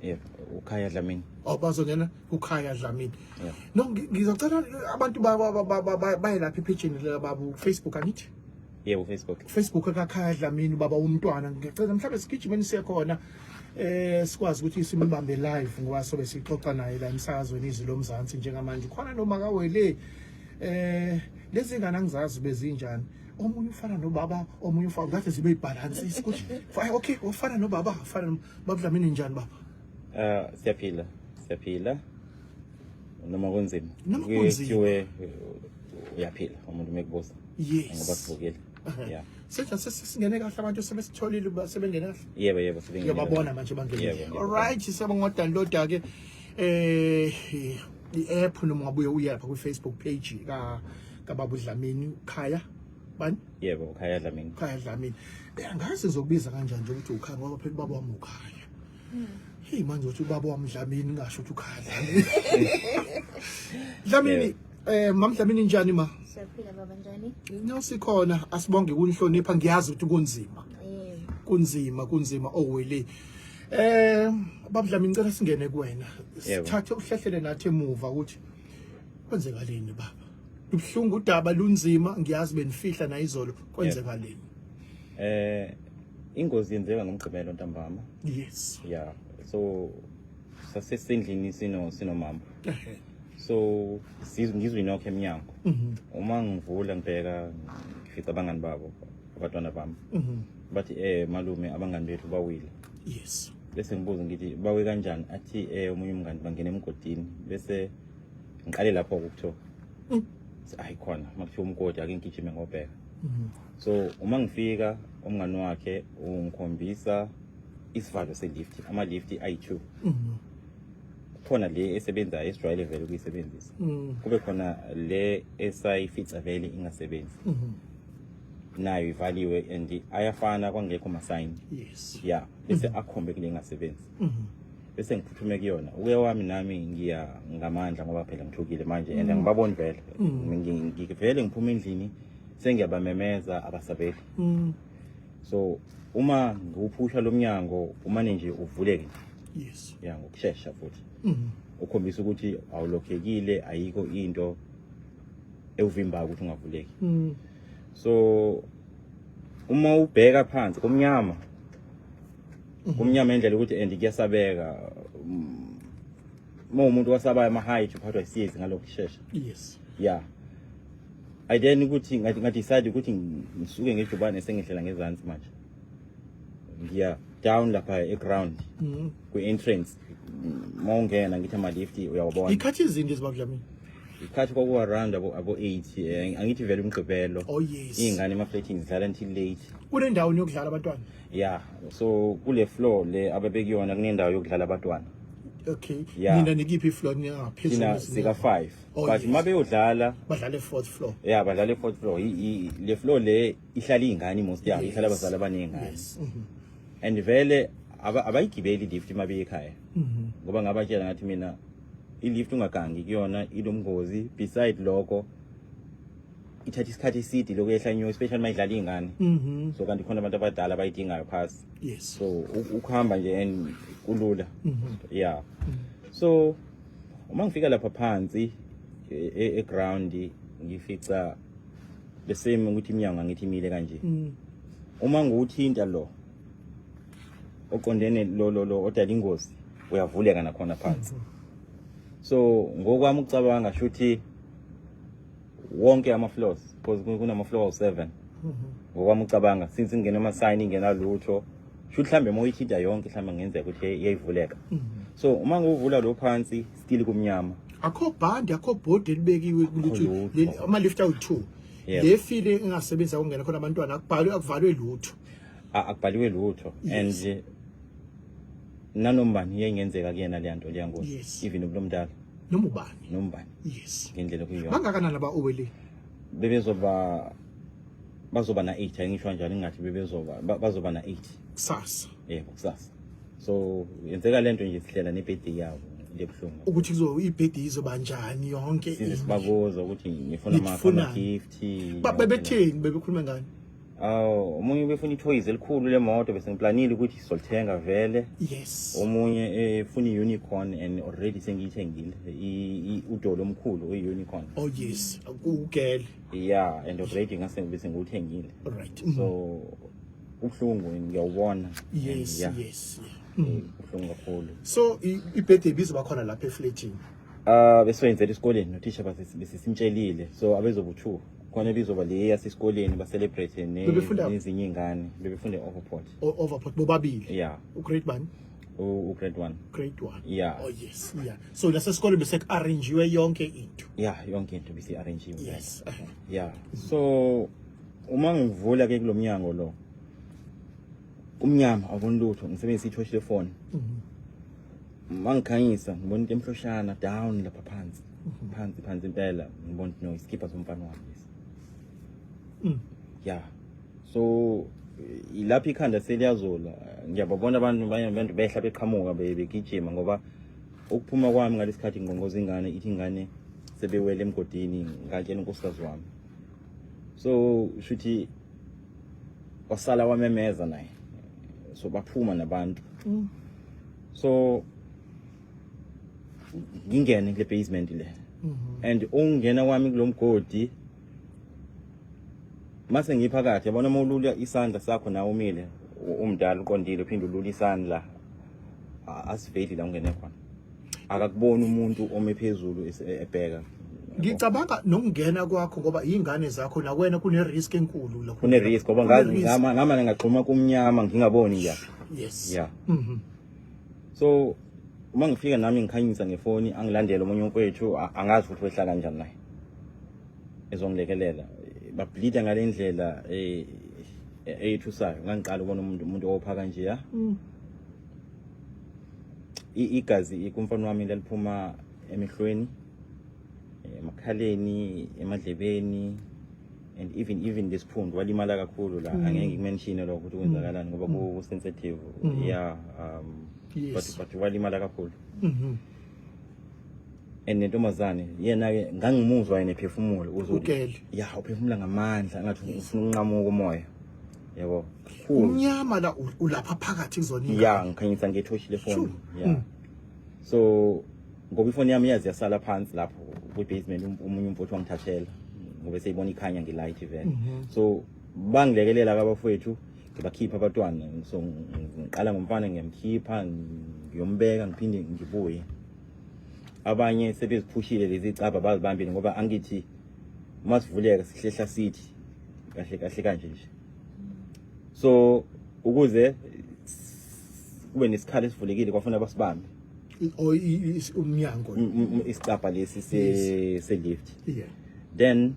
yebo ukhaya dlamini oh bazongena kukhaya dlamini Yeah. no ngi- ngizocela abantu ba- ba- ba- ba- ba- baye lapha ephejini likababu facebook angithi yebo facebook facebook akakhaya dlamini baba umntwana ngicela mhlawumbe sigijimeni siye khona eh sikwazi ukuthi simbambe live ngoba sobe sixoxa naye la emsakazweni izwi lomzansi njengamanje khona noma kawele eh lezi ngane angizazi bezinjani omunye ufana nobaba omunye ufana ngathi zibe ibhalansi isikuthi okay ufana nobaba ufana no- baba Dlamini njani baba Ah, siyaphila siyaphila noma kunzima Noma Kwi- kunzima. kuthiwe, uh, uyaphila umuntu mekubuza ngoba yes sivukile yeah senjani sesi- singene kahle abantu sebesitholile uba sebengene kahle yebo yebo sibingelele. ngiyababona manje Yebo, bangene yebo. alright siyabonga ngodownloada ke eh i-app noma ungabuye uyapha kwi-facebook page ka kababa uDlamini ukhaya bani yebo ukhaya Dlamini ukhaya Dlamini eh, angazi ngizokubiza kanjani nje ukuthi ukhaya ngoba phela ubaba wami ukhaya hmm. hey manje uthi ubaba wami Dlamini ngasho ukuthi ukhaya Dlamini eh mam Dlamini njani ma siyaphila baba njani nosikhona asibonge kunihlonipha ngiyazi ukuthi kunzima kunzima kunzima owele oh, eh babudlami ngicela singene kuwena sithathe uhlehlele nathi emuva ukuthi kwenzekaleni baba ubuhlungu udaba lunzima ngiyazi benifihla nayizolo kwenzekaleni eh ingozi yenzeka ngomgqibelo ntambama yes yeah so sasesendlini sino sinomama so ngizwe inokho emnyango mhm. uma ngivula ngibheka ngifica abangani babo abantwana bami mhm. bathi eh malume abangani bethu bawile yes bese ngibuza ngithi bawe kanjani athi eh omunye umngani bangena emgodini bese ngiqale lapho ukuthiwa mm. hayi khona makuthiwa umgodi ake ngigijime ngobheka mm-hmm. so uma ngifika umngani wakhe ungikhombisa isivalo selift ama-lift ayi-two mm-hmm. khona le esebenza esijwayele vele ukuyisebenzisa mm. kube khona le esayifica vele ingasebenzi mm-hmm. nayo ivaliwe and ayafana kwangekho masayini yes ya yeah. bese mhm. akhombe kule ngasebenzi mhm. bese ngiphuthume kuyona uye wami nami ngiya ngamandla ngoba phela ngithukile manje and mhm. ngibabona vele ngivele ngiphuma endlini sengiyabamemeza abasabeli so uma ngiwuphusha lo mnyango umane nje uvuleke nje yes ya ngokushesha futhi ukhombisa ukuthi awulokhekile ayikho into ewuvimbayo ukuthi ungavuleki so uma ubheka phansi kumnyama kumnyama indlela ukuthi and kuyasabeka uma umuntu wasabayo ama-height uphathwa isiyezi ngalo kushesha yes yeah i then ukuthi ngadecide ukuthi ngisuke ngejubane sengihlela ngezansi manje ngiya down lapha eground mm-hmm. kwi-entrance mawungena ngithi ama-lift uyawabona ikhathi izinto ezibabudlamini ikhathi kwakuwaranda abo-eight eh, angithi vele umgqibelo oh, yes. iy'ngane emafleting zidlala until late kunendawo niyokudlala abantwana ya so kule floor le ababekuyona kunendawo yokudlala abantwana okay yeah. nina nikiphi ifloor ningaphezulu sika 5 oh, but uma beyodlala badlale fourth floor yeah badlale fourth floor le floor le ihlala izingane most yabo ihlala abazali abaningi ngane mm-hmm. and vele aba- abayigibeli lift uma beye ekhaya Mhm. ngoba ngabatshela ngathi mina ilift ungagangi kuyona ilomngozi beside lokho ithatha isikhathi eside lokuyehla nyo especially uma idlala iy'ngane Mhm. so kanti khona abantu abadala abayidingayo phasi Yes. so u- ukuhamba nje and kulula Mhm. yeah so uma ngifika lapha phansi e- e- eground ngifica the same ukuthi iminyango angithi imile kanje mm. uma ngiwuthinta lo oqondene lo lo lo odala ingozi uyavuleka nakhona phansi mm. so ngokwami ucabanga shuthi wonke ama floors because kunama floor 7 mm-hmm. ngokwami ucabanga since ingena ama sign ingena lutho shuthi mhlambe moyithinta yonke mhlambe ngenzeka ukuthi iyayivuleka mm-hmm. so uma ngiwuvula lo phansi still kumnyama akho bhandi akho bhodi elibekiwe ukuthi ama lift out 2 le file engasebenza kungena khona abantwana akubhalwe akuvalwe lutho akubhaliwe lutho and nanombani yengenzeka kuyena le nto leya ngozi even ubulomdala noma ubani noma ubani yes ngendlela kuyona bangakanani aba owele bebezoba bazoba na 8 ayingisho kanjalo ingathi bebezoba bazoba na 8 kusasa yebo kusasa so yenzeka lento nje sihlela nebirthday yabo into ebuhlungu ukuthi kuzo ibirthday izoba njani yonke into size sibabuza ukuthi ngifuna ama Nifuna. ama gift Ba- bebetheni bebekhuluma ngani aw omunye ubefuna ithoyizi elikhulu lemoto bese ngiplanile ukuthi sizolithenga vele yes omunye efuna i-unicorn and already sengiyithengile i- i- udolo omkhulu uyi-unicorn oh yes kugele yeah and already ngase bese ngiwuthengile right so ubuhlungu ngiyawubona yes yeah. yes yeah. Eh, mm. ubuhlungu kakhulu so ibhede ibizoba khona lapha efletini uh besoyenzela esikoleni nothisha besisimtshelile so abezobuthuka khona ebizoba le yasesikoleni bacelebrate nezinye ingane bebefunda overport overport bobabili yeah ugrade bani ugrade 1 grade 1 yeah oh yes yeah so lasesikole bese arrangiwe yonke into yeah yonke into bese arrangiwe yes uh-huh. yeah so uma ngivula ke kulomnyango lo umnyama awuboni lutho ngisebenzisa i-torch lefoni mhm. uma ngikhanyisa ngibona into emhloshana down lapha phansi mhm. phansi phansi impela ngibona ukuthi no isikhipha somfana wami lesi mm. ya so ilapha ikhanda seliyazola ngiyababona abantu abantu behla beqhamuka begijima ngoba ukuphuma kwami ngalesi khathi ngqongoza ingane ithi ingane sebewele emgodini ngatshela unkosikazi wami so shuthi wasala wamemeza naye so baphuma nabantu mm. so ngingene kule basement le mm -hmm. and ungena kwami kulomgodi mase ngiphakathi yabona uma ulula isandla sakho nawe umile umdala uqondile uphinde ulula isandla asiveli la ungene khona akakuboni umuntu ome phezulu ebheka ngicabanga nokungena kwakho ngoba izingane zakho la wena kune risk enkulu lokho kune risk ngoba ngazi ngama ngama ngagxuma kumnyama ngingaboni nje yes yeah mhm so uma ngifika nami ngikhanyisa ngefoni angilandele omunye umfowethu angazi ukuthi wehla kanjani naye ezongilekelela bableeda ngale ndlela eh, eh, eyithusayo ngangiqala ukubona umuntu umuntu opha kanje ya mm. igazi kumfana wami laliphuma emehlweni emakhaleni emadlebeni and even even this phundu walimala kakhulu la mm. angeke ngikumenshine lokho ukuthi kwenzakalani ngoba mm. ku sensitive mm-hmm. yeah um but but walimala kakhulu mm-hmm. and nentombazane yena ke ngangimuzwa yena ephefumula uzothi yeah uphefumula ngamandla ngathi ufuna unqamuka umoya yabo Khulu. umnyama la u- ulapha phakathi kuzona ingane. ya ngikhanyisa ngetoshi lefoni Sure. ya Mm. so ngoba ifoni yami yazi yasala phansi lapho kwi-basement um- omunye umfowethu wangithathela ngobe seyibona ikhanya ngilight vele Mhm. so bangilekelela ke abafowethu ngibakhipha abatwana so ng- ngiqala ngomfana ngiyamkhipha ng- ngiyombeka ngiphinde ngibuye abanye sebeziphushile lezi caba bazibambile ngoba angithi uma sivuleka sihlehla sithi kahle kahle kanje nje so ukuze kube nesikhala esivulekile kwafuna basibambe umnyango isicabha lesi se lift yeah then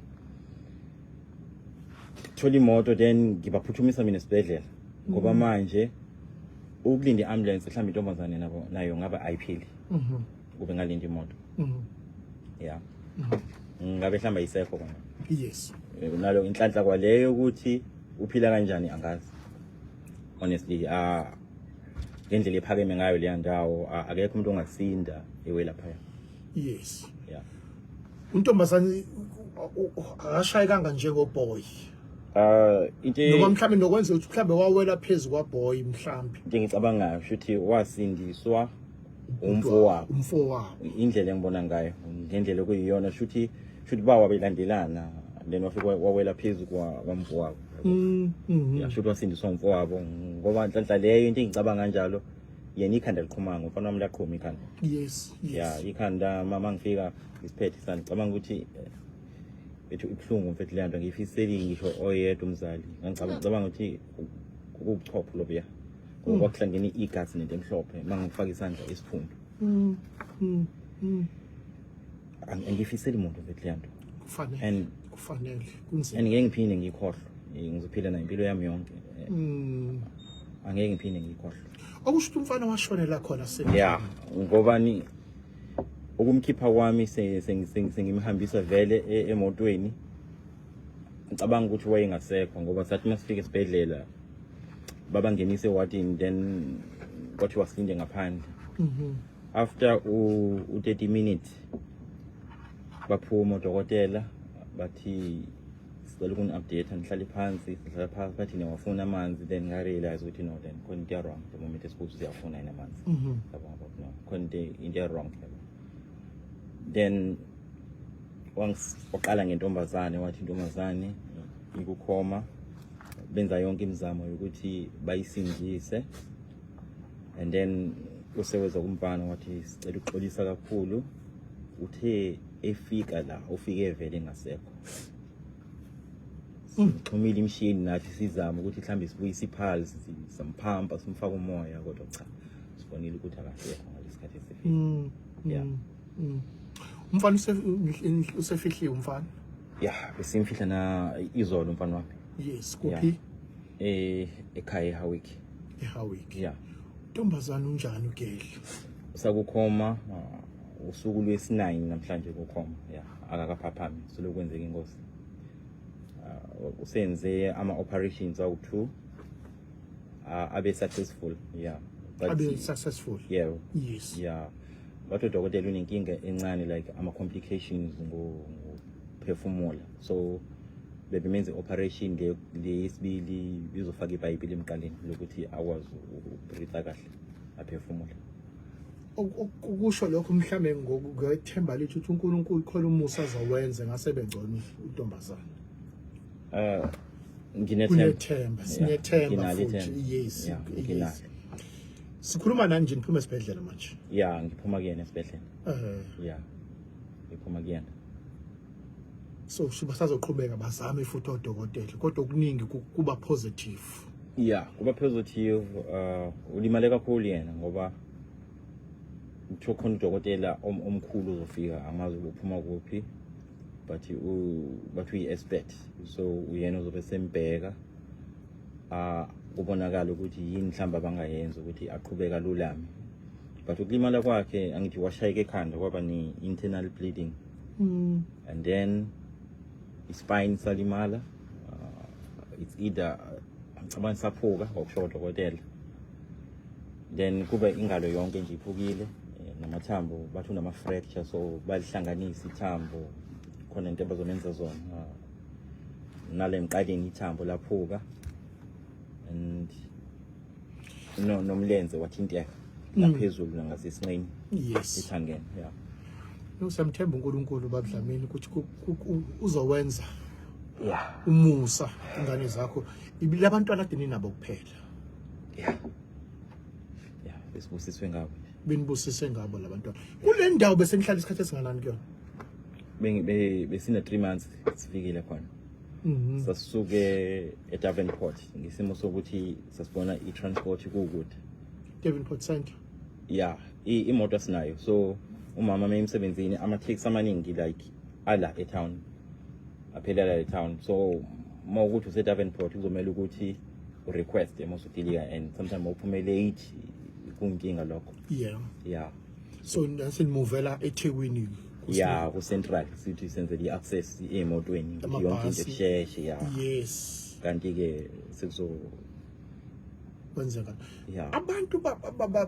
thola imoto then ngibaphuthumisa mina esibhedlela ngoba mm. manje ukulinda i-ambulance mhlawumbe intombazane nabo nayo ngabe ayiphili mhm. kube ngalinda imoto mm. ya mm. ngabe hlamba isekho kona yes eh, nalo inhlanhla kwaleyo ukuthi uphila kanjani angazi honestly ah ngendlela ephakeme ngayo leya ndawo ah, akekho umuntu ongasinda ewe lapha yes yeah untombazane akashayi kanga njengoboy Uh into noma mhlambe nokwenza ukuthi mhlambe wawela phezulu kwaboy mhlambe into engicabangayo ukuthi wasindiswa umfowabo umfowabo indlela engibona ngayo ngendlela kuyiyona shuthi shuthi bawa belandelana then wafika wawela phezu kwamfowabo mm, mm-hmm. yashuthi wasindiswa umfowabo ngoba nhlanhla leyo into engicabanga kanjalo yena ikhanda liqhuma ngomfana wami laqhuma ikhanda yes yes ya ikhanda mama ngifika isiphethe isandla cabanga ukuthi eh, ethi ubuhlungu mfethu le nto ngiyifiseli ngisho oyedwa umzali ngicabanga ukuthi ukuchopha lobuya ngoba mm. kwakuhlangene igazi nento emhlophe uma ngifaka isandla isiphundu mm, mm, angifiseli muntu mfethu leyo nto kufanele kufanele kunzima and ngeke ngiphinde ngikhohlwe ngizophila nayo impilo yami yonke angeke ngiphinde ngikhohlwe okusho ukuthi umfana washonela khona se ya ngobani ukumkhipha kwami sengimhambisa vele e-, emotweni ngicabanga ukuthi wayengasekho ngoba sathi uma sifika esibhedlela babangenise ewatini then kwathi wasilinde ngaphandle mhm. after u-30 minutes baphuma odokotela bathi sicela ukuni-update ngihlale phansi sihlala phansi bathi niyawafuna amanzi then ngarealize ukuthi no then khona into ya-wrong the moment esibuthi siyafuna yini amanzi mhm. yabona no khona into ya-wrong then waqala ngentombazane wathi intombazane ikukhoma benza yonke imizamo yokuthi bayisindise and then useweza kumfana wathi sicela ukuxolisa kakhulu uthe efika la ufike vele ngasekho Xhumile imshini nathi sizama ukuthi mhlambe sibuyise ipulse simphampa simfaka umoya kodwa cha sibonile ukuthi akasekho ngalesikhathi esifike. Mm. Yeah. Mm. mm. Umfana usefihliwe umfana. Yeah, besimfihla na izolo umfana wami. Yes, kuphi? Eh ekhaya eHawick. eHawick. Yeah. Ntombazana unjani ugedla? Sakukhoma. Uh, usuku lwesinayini namhlanje kukhoma ya akakaphaphami selokwenzeka ingozi uh, usenze ama-operations awu-two uh, abe successful yeah abe successful yeah yes yeah but udokotela unenkinga encane like ama-complications ngophefumula so bebemenze operation le yesibili bizofaka ibhayibheli emqaleni lokuthi akwazi ukubritha kahle aphefumule ukusho lokho mhlambe ngokuthemba lithi uthi uNkulunkulu khona umusa azowenze ngase bengcono intombazana eh nginethemba sinethemba futhi yes yes sikhuluma nani nje niphuma esibhedlela manje ya ngiphuma kuyena esibhedlela eh ya ngiphuma kuyena so basazoqhubeka bazame futhi odokotela kodwa okuningi kuba positive yeah kuba positive uh ulimale kakhulu yena ngoba kuthiwa khona udokotela omkhulu uzofika angazi uphuma kuphi but bathi uyi-expert so uyena uzobe sembheka uh kubonakala ukuthi yini mhlawumbe abangayenza ukuthi aqhubeka lulame but ukulimala kwakhe angithi washayeka ekhanda kwaba ne-internal bleeding mm. and then ispine salimala uh, it's either ngicabanga saphuka ngokusho odokotela then kube ingalo yonke nje iphukile eh, namathambo bathi unama-fracture so balihlanganisa ithambo khona into abazomenza zona uh, nale mqaleni ithambo laphuka and no nomlenze wathinteka mm. laphezulu nangasesinqeni yes ithangene yeah no samthemba uNkulunkulu babudlamini ukuthi uzowenza yeah umusa ingane zakho labantwana adini nabo kuphela yeah yeah besibusiswe ngabo benibusise ngabo labantwana kule ndawo bese nihlala isikhathi esinganani kuyona bengi besina 3 months sifikile khona Mhm. sasisuke eDavenport ngesimo sokuthi sasibona i-transport kukude Davenport Centre ya i- imoto asinayo so umama uma emsebenzini ama-taxi amaningi like ala etown aphelela etown so uma ukuthi useDavenport kuzomele ukuthi urequeste uma usudilika and sometimes uma uphume late kunkinga lokho yeah ya so nasinimuvela ethekwini ya ku-central sithi senzele i-access emotweni yonke into esheshe ya yes kanti-ke sekuzo kwenzeka abantu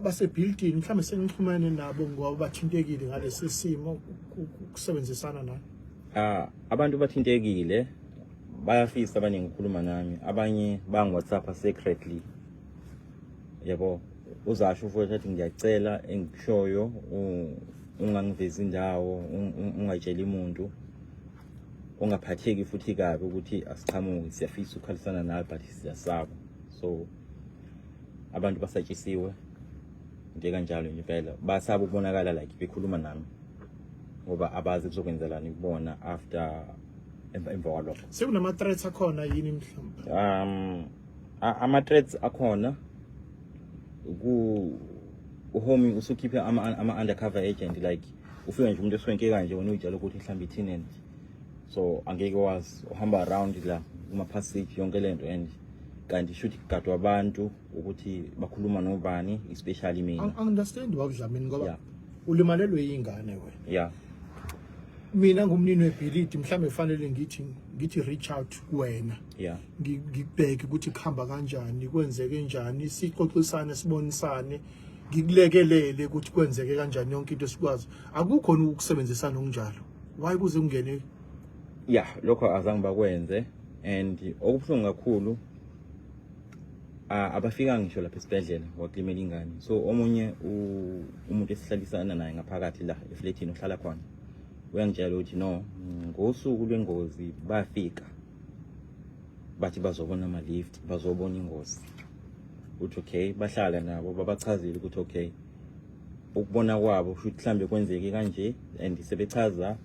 basebuilding mhlawumbe senixhumane nabo ngoba bathintekile ngalesi simo kusebenzisana nani ah abantu bathintekile bayafisa abaningi ukukhuluma nami abanye bangi-whatsapp secretly yebo uzasho ufothi athi ngiyacela engikushoyo ungangivezi indawo ungatsheli muntu ungaphatheki futhi kabi ukuthi asiqhamuki siyafisa ukukhalisana nawe but siyasaba so abantu basatshisiwe nje kanjalo nje impela basaba ukubonakala like bekhuluma nami ngoba abazi kuzokwenzelani kubona after emva kwalokho sekunama-threats akhona yini mhlawumbe um ama threats akhona ku uhoming usukhiphe ama ama undercover agent like ufika nje umuntu eswenke kanje wena uyitshela ukuthi mhlawumbe ithinen so angeke wazi uhamba around la kuma passage yonke lento and kanti shuthi kugadwa abantu ukuthi bakhuluma nobani especially mina I understand wakudlamini ngoba yeah. ulimalelwe ingane wena yeah mina ngumnini webhilidi mhlawumbe kufanele ngithi ngithi reach out kuwena yeah ngikubheke ukuthi kuhamba kanjani kwenzeke njani sixoxisane sibonisane ngikulekelele ukuthi kwenzeke kanjani yonke into esikwazi akukhona ukusebenzisana okunjalo why kuze kungene ya lokho azange bakwenze and okubuhlungu kakhulu abafika ngisho lapha esibhedlela wakulimela ingane so omunye umuntu esihlalisana naye ngaphakathi la efletini ohlala khona uyangitshela ukuthi no ngosuku lwengozi bafika bathi bazobona ama-lift bazobona ingozi ukuthi okay bahlala nabo babachazile ukuthi okay ukubona kwabo kusho ukuthi mhlawumbe kwenzeke kanje and sebechaza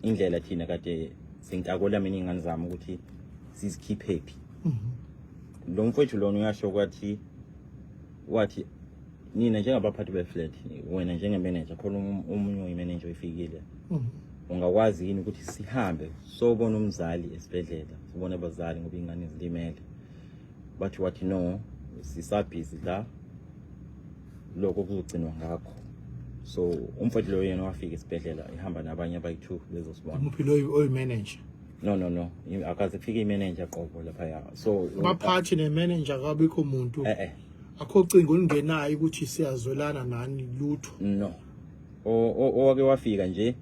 indlela thina kade sintakola mina iy'ngane zami ukuthi sizikhiphephi mhm. lo mfowethu lona uyasho kwathi wathi nina njengabaphathi be-flat wena njenge-manager khona um-, omunye uyimeneja oyifikile um, mm. ungakwazi yini ukuthi sihambe sobona umzali esibhedlela sibone abazali ngoba ingane zilimele bathi wathi no sisabhizi la lokho kuzogcinwa ngakho so umfowethu loyo yena wafika esibhedlela ehamba nabanye abayi-two bezosibona umuphi loyo oyimanager no no no akaze kufike imanager qobo laphaya so baphathi nemanager kabikho muntu eh eh akho cingo olungenayo ukuthi siyazwelana nani lutho no owake wafika nje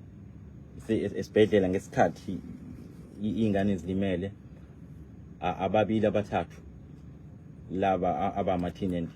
esibhedlela ngesikhathi iy'ngane zilimele ababili abathathu laba abama-teenage